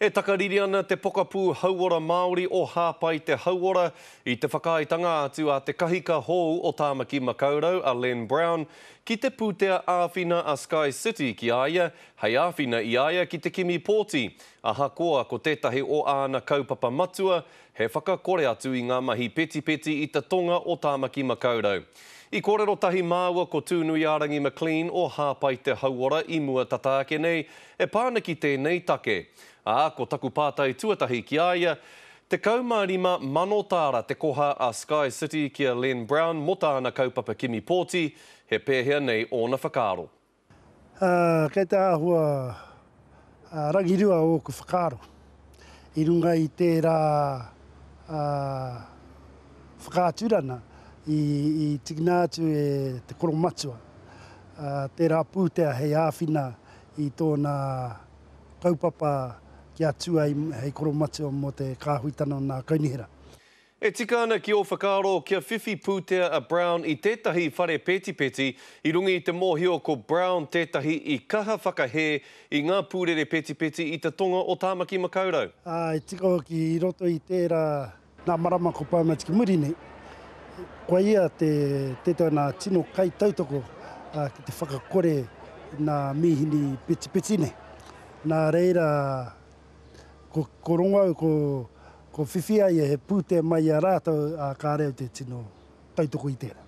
E takariri ana te pokapū Hauora Māori o Hāpai Te Hauora i te whakaaetanga atu a te kahika hōu o Tāmaki Makaurau, a Len Brown, ki te pūtea āwhina a Sky City ki a ia hei āwhina i a ia ki te kimi pōti, ahakoa ko tētahi o āna kaupapa matua he whakakore atu i ngā mahi petipeti i te tonga o Tāmaki Makaurau. I kōrero tahi māua ko Tūnuiārangi McLean o Hāpai Te Hauora i mua tata ake nei, E pā ana ki tēnei take. Ā, ko taku pātai tuatahi ki a ia, 15 mano tāra te koha a Sky City ki a Len Brown mō tāna kaupapa kimi pōti, he pēhea nei ōna whakaaro? Ā, kei te āhua rangirua ōku whakaaro. i runga i tērā whakaaturana i tikina atu e te koromatua tērā pūtea hei āwhina i tōna kaupapa kia tū ai hei koromatua mō te kāhuitanga o nā kaunihera. E tika ana ki ō whakaaro kia whiwhi pūtea a Brown i tētahi whare petipeti i runga i te mōhio ko Brown tētahi i kaha whakahē i ngā pūrere petipeti i te tonga o Tāmaki Makaurau. Ā, e tika hoki i roto i tērā ngā marama ko Brown atu ki muri nei. Koa ia te tētahi o nā tino kaitautoko ki te whakakore i nā mīhini petipeti nei. Nā reira, ko, ko rongo au, ko, ko whiwhi ai he pūtea mai i a rātou, ā, kāre au te tino tautoko i tērā.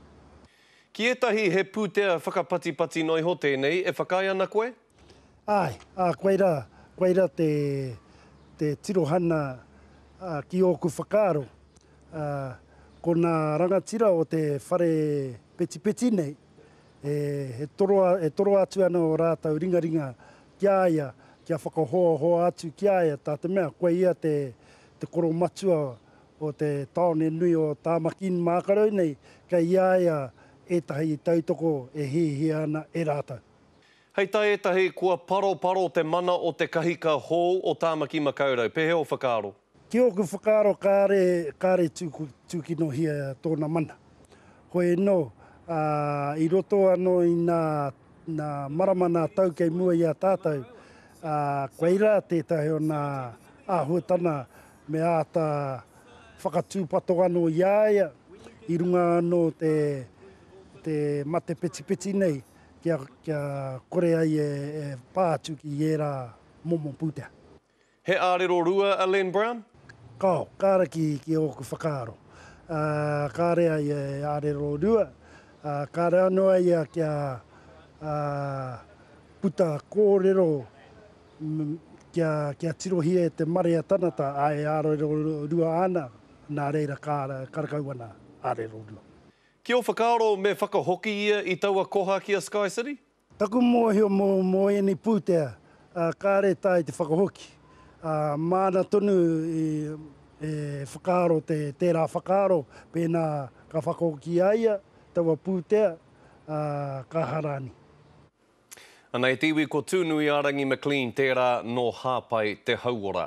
Ki ētahi he pūtea whakapatipati noa iho tēnei e whakaae ana koe? Āe, ā, koai rā, koai rā te, te tirohana ā, ki ōku whakaaro, ā, ko nā rangatira o te whare petipeti nei, E toro atu ana ō rātou ringaringa ki a ia, kia whakahoahoa atu ki a ia, tā te mea, koe ia te koro matua o te tāone nui o Tāmaki-in-mākarau nei, kei a ia ētahi tautoko e hiahia ana e rātou. Hei tā ētahi, kua paroparo te mana o te kahika hou o Tāmaki Makaurau. Pēhea ō whakaaro? Ki ōku whakaaro kāre, kāre tūkinohia tōna mana. Hoi anō, i roto anō i nā marama nā tau kei mua i a tātou, koia rā tētahi o nā āhuatana me āta whakatūpato anō i a ia i runga anō te matepetipeti nei. kia kore ai e pā atu ki ērā momo pūtea. He ārero rua a Len Brown? Kao, kāre ki ōku whakaaro. Kāre ai e ārero rua, ā, kāre anō ai ia kia puta kōrero kia tirohia e te marea tanata e ārero rua ana, nā reira kāre karekau ana ārero rua. Ki ō whakaaro me whakahoki ia i taua koha ki a SkyCity? Taku mōhio mō mō ēnei pūtea, kāre tae te whakahoki, ā, māna tonu i e whakaaro te tērā whakaaro pēnā ka whakahoki a ia taua pūtea, ā, ka harani. Anei te iwi ko Tūnuiārangi McLean tērā nō Hāpai te Hauora.